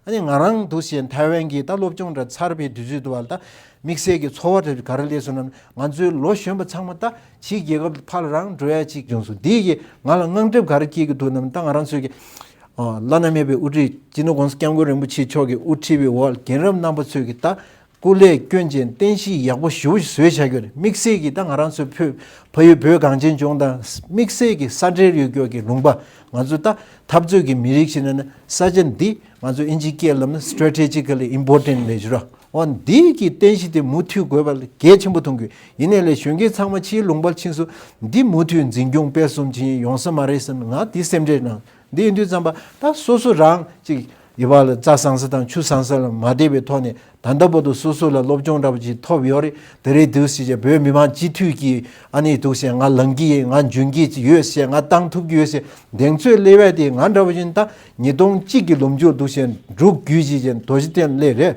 ཨ་ནི་ང་རང་འདུ་ཤེས་ཐའེ་ཝན་གྱི་ད་སློབ་སྦྱོང་འདྲ་ཚར་བའི་དུས་ཚོད་དུ་བ་ལ་ད་དམིགས་བསལ་གྱི་འཚོ་བ་འདྲ་ག་རེ་ལས་སོང་ནམ་ང་ཚོའི་ལོ་གཞོན་པ་ཚང་མ་ད་ཕྱིའི་རྒྱལ་ཁབ་ཏུ་ཕར་ལ་རང་འགྲོ་ཡ་གཅིག་བྱུང་སོང་དེ་ཡིས་ང་ལ་དངངས་སྐྲབ་ག་རེ་སྐྱེས་ཀྱི་འདུག་ནམ་ད་ང་རང་ཚོའི་བླ་ན་མེད་པའི་དབུ་ཁྲིད་ཅི་ནུ་ཀོང་ས་སྐྱབས་མགོན་རིན་པོ་ཆེ་མཆོག་གི་དབུ་ཁྲིད་པའི་འོག་རྒན་རབས་རྣམ་པ་ཚོས་ཀྱི་ད་སྐུ་ལས་སྐྱོན་ཅན་རྟེན་གཞི་ཡག་པོ་ཞུ་བཟོས་བྱ་རྒྱུར་དམིགས་བསལ་གྱིས་ད་ང་རང་ཚོའི་ཕུད་ཕ་ཡུལ་བོད་གངས་ཅན་ལྗོངས་དང་དམིགས་བསལ་གྱིས་ས་འབྲེལ་ཡུལ་སྐྱོར་གྱི་ལུང་པ་ང་ཚོས་ད་འཐབ་རྩོད་ཀྱི་མི་རིགས་ཤིག་ནི་ས་ཆ་འདི་ང་ཚོ་ཨིན་ཇིའི་སྐྱེས་ལམ་ནི Strategically Important Measure འོ་འདི་ཀྱི་རྟེན་གཞི་དེ་མུ་མཐུད་དགོས་པ་གལ་ཆེན་པོ་མཐོང་གི་ཡིན་ནས་ལས་གཞོན་མཁན་ཚང་མ་ཕྱིའི་ལུང་པར་ཕྱིན་སུ་འདི་མུ་མཐུད་འཛིན་སྐྱོང་སྤེལ་གསུམ་བྱེད་ཡོང་ས་མ་རེད་བསམ་ང་དེ་སེམས་ཁྲལ་གནང། འདི་ཡིན་དུས་བརྩམས་པ་ད་སོ་སོ་རང་ཅིག་ཡོད་པ་ལ་རྩྭ་བཟང་ས་དང་ཆུ་བཟང་ས་ལ་མ་བལྟས་པའི་ཐོག་ནས་ད་ལྟ་བར་དུ་སོ་སོ་ལ་སློབ་སྦྱོང་འདྲ་པོ་ཅིག་ཐོབ་ཡོད་རེད་དེ་རེད་འདུག་ཞེས་བྱས་བོད་མི་མང་སྤྱི་འཐུས་ཀྱི་ཨ་ནེ་འདུག་ཞེས་ང་ལངས་ཀྱི་ཡིན་ང་འཇོན་གྱི་ཡོད་ཞེས་ང་བཏང་ཐུབ་ཀྱི་ཡོད་ཞེས་གདེང་ཚོད་སླེ་བས་དེ་ང་འདྲ་པོ་ཞིག་ད་ཉིས་སྟོང་གཅིག་གི་ལོ་མཇུག་འདུག་ཞེས་འབྲུག་བརྒྱུད་ཅེས་བྱས་མདོ་བཞི་སྟེ་སླེ་རེད།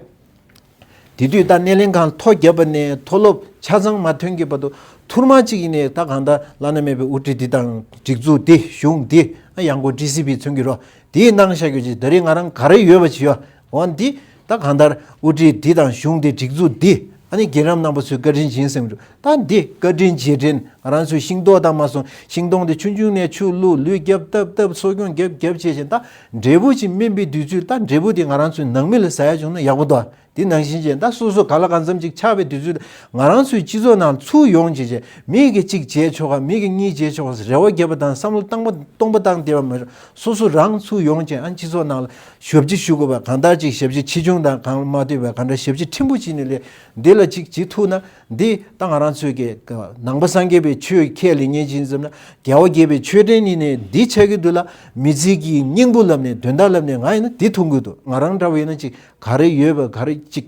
དེ་དུས་ད་སྣེ་ལེན་ཁང་ཐོ་བརྒྱབ་པ་ནས་མཐོ་སློབ་ཆ་ཚང་མ་ཐོན་གྱི་བར་དུ་ཐུར་མ་གཅིག་ཡིན་ནའི་ད་གང་ལྟར་བླ་ན་མེད་པའི་དབུ་ཁྲིད་འདི་དང་སྒྲིག་འཛུགས་འདི་གཞུང་འདི་ཨ་ཡང་སྒོ་ཀྲི་སི་པི་ཚུན་གྱི་རོ་དེའི་ནང་བཞག་རྒྱུ་ཅི་ད་རེས་ང་རང་ག་རེ་ཡོད་པ་བྱེད་འོ་འདི་ད་གང་ལྟར་དབུ་ཁྲིད་འདི་དང་གཞུང་འདི་སྒྲིག་འཛུགས་འདི་ཨ་ནི་རྒན་རབས་རྣམ་པ་ཚོའི་བཀའ་དྲིན་ཡིན་སེམས་ད་འདི་བཀའ་དྲིན་རྗེས་དྲན་ང་རང་ཚོའི་ཤིང་ཏོག་དང་མ་སོང་ཤིང་སྡོང་དེ་ཆུང་ཆུང་ནས་ཆུ་བླུག་ལུས་རྒྱབ་བཏབ་བཏབ་གསོ་སྐྱོང་རྒྱབ་རྒྱབ་བྱེད་བཞིན་ད་འབྲས་བུ་ཅིག་སྨིན་པའི་དུས་ཚོད་ད་འབྲས་བུ་དེ་ང་རང་ཚོའི་ནང་མི་ལ་ཟ་ཡ་བྱུང་ན་ཡག་པོ་འདུག་དེ་ནང་བཞིན་བྱས་ད་སོ་སོ་ག་ལ་གང་འཚམ་ཅིག་ཆགས་པའི་དུས་ཚོད་ད་ང་རང་ཚོའི་སྤྱི་ཚོགས་ནང་ཚུར་ཡོང་བྱས་བྱས་མིག་གིས་གཅིག་བྱས་ཆོག་ག་མིག་གིས་གཉིས་བྱས་ཆོག་ག་རེ་བ་བརྒྱབ་པ་དང་བསམ་བློ་བཏང་པ་སྟོང་པ་བཏང་བསྡད་པ་མ་ཤོར་སོ་སོ་རང་ཚུར་ཡོང་བྱས་ཨ་སྤྱི་ཚོགས་ནང་ལ་ཞོ་བྱི་ཞུ་དགོས་པ་གང་ལྟར་ཅིག་ཞབས་ཕྱི་ཆེ་ཆུང་དང་གང་ལ་མ་ལྟོས་པར་གང་འདྲ་ཞབས་ཕྱི་ཕྲན་བུ་བྱིན་ནས་ལས་འདི་ལ་ཅིག་བྱེད་ཐུབ་ན་འདི་ལྟ་ང་རང་ཚོས་ཀྱི་ནང་པ་སངས་རྒྱས་པའི་ཆོས་ཁས་ལེན་ཉན་ཅིང་ཙམ་ན་རྒྱལ་བ་དགྱེས་པའི་མཆོད་རྟེན་ཉིད་ནས་འདི་ཆགས་ཀྱི་འདུག་ལ་མི་ཚིག་གིས་སྙིང་པོ་ལབ་ནས་དོན་དག་ལབ་ནས་ང་ཡིན་ན་དེ་ཐུག་གི་འདུག་ང་རང་འདྲ་བ་ཡིན་ན་ཅིག་ག་རེ་ཡོད་པ་ག་རེ་ཅིག་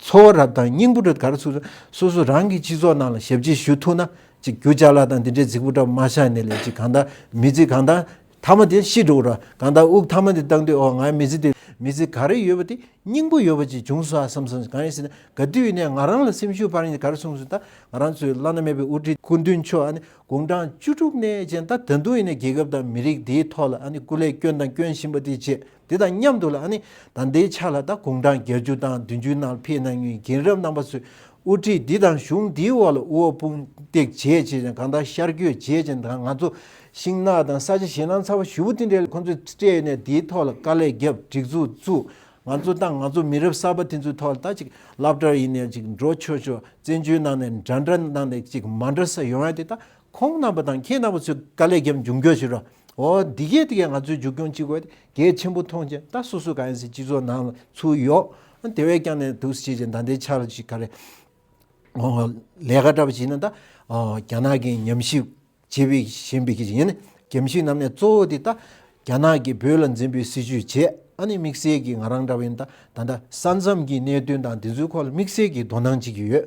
འཚོ་བ་རབ་དང་སྙིང་པོ་རེ་ག་རེ་ཚུགས་ན་སོ་སོ་རང་གི་སྤྱི་ཚོགས་ནང་ལ་ཞབས་ཕྱི་ཞུ་ཐུག་ན་ཅིག་རྒྱུ་ཅག་ལ་དང་འདི་འདྲའི་ཚིག་པོ་འདྲ་མ་ཆགས་ནས་ལས་ཅིག་གང་དག་མི་ཚིག་གང་དག་ཐ་མ་དེ་ཤི་འགྲོ་གྲང་གང་དག་དབུགས་ཐ་མ་དེ་བཏང་དུས་འོ་ང་མི་ཚེ་འདི་མི་ཚེ་ག་རེ་ཡོད་པ་དེ་སྙིང་པོ་ཡོད་པ་ཅིག་བྱུང་སོ་ཨ་བསམ་སོང་གང་ཡིན་ཟེར་ན་ག་དུས་ཡིན་ནའི་ང་རང་ལ་སེམས་ཤུགས་འཕར་ཡིན་ག་རེ་གསུངས་སོང་ད་ང་རང་ཚོའི་བླ་ན་མེད་པའི་དབུ་ཁྲིད་སྐུ་མདུན་མཆོག་ཨ་ནི་དགུང་གྲངས་བཅུ་དྲུག་ནས་ཅན་ད་ད་དུང་ཡིན་ནའི་རྒྱལ་ཁབ་དང་མི་རིགས་འདིའི་ཐོག་ལ་ཨ་ནི་སྐུ་ལས་སྐྱོན་དང་སྐྱོན་བཞིན་པ་དེ་བྱས། དེ་དང་མཉམ་དུ་ལ་ནི་ད་ལྟའི་ཆ་ལ་ད་དགུང་གྲངས་བརྒྱད་ཅུ་དང་བདུན་ཅུའི་ནང་ཕེབས་གནང་མྱོང་རྒན་རབས་རྣམ་པ་ཚོས་དབུ་ཁྲིད་འདི་དང་གཞུང་འདིའི་འོག་ལ་དབུ་བ་དཔུང་འདེགས་བྱེད་ཅེས་ཀྱང་གང་ལྟར་ཤར་བསྐྱོད་བྱེད་ཅིང་ད་ང་ཚོ་ཤིང་ནགས་དང་ས་ཆ་ཞེད་སྣང་ཚ་བ་ཞུ་བོ་དེ་འདྲས་ཁོ་ཚོས་སྤྲད་ནས་དེའི་ཐོག་ལ་དཀའ་ལས་བརྒྱབ་སྒྲིག་འཛུགས་བཙུགས་ང་ཚོ་དང་ང་ཚོ་མི་རབས་གསར་པ་དེ་ཚོའི་ཐོག་ལ་ད་ཅིག་ལབ་སྒྲར་ཡིན་ནས་ཅིག་འགྲོ་ཆོག་ཆོག་བཙན་བྱོལ་ནང་ནས་འདྲ་འདྲ་གནང་ནས་ཅིག་མ་འདྲ་ས་ཡོང་ཡ་དེ་ད་ཁོང་རྣམ་པ་དང་ཁྱེད་རྣམ་པ་ཚོས་དཀའ་ལས་བརྒྱབ་མཇུག་འགྱོད་བྱེད་རོགས། ཨོ། འདི་གས་དེ་གས་ང་ཚོའི་འཇུག་སྐྱོང་ཅི་དགོས་དེ་གས་ཆེན་པོ་མཐོང་ཅིང་ད་སོ་སོ་ག་ཡིན་ཟེར་སྤྱི་ཚོགས་ནང་ལ་ཚུར་ཡོང། དེ་བས་ཀྱང་ནས་དུས་སུ་བྱེད་ཅིང་ད་ལྟའི་ཆར་ཞིག་ག་རེ། ཨོ། ལས་ཀ་འདྲ་པོ་བྱེད་ན་ད། ཨོ། རྒྱ་ནག་གིས་ཉམས་ཞིབ་བྱེད་པའི་བཞིན་པའི་གཞི་ཡིན། རྒྱམ་ཤིང་རྣམས་ནས་གཙོ་བོ་དེ་ད། རྒྱ་ནག་གིས་བོད་ལ་འཛིན་པའི་སྲིད་བྱུས་བྱེད་ཨ་ནི་དམིགས་བསལ་གྱིས་ང་རང་འདྲ་བ་ཡིན་ད་ད་ལྟ་ས་མཚམས་ཀྱི་གནད་དོན་དང་དེ་ཚོའི་ཁོག་ལ་དམིགས་བསལ་གྱིས་དོ་སྣང་བྱེད་ཀྱི་ཡོད།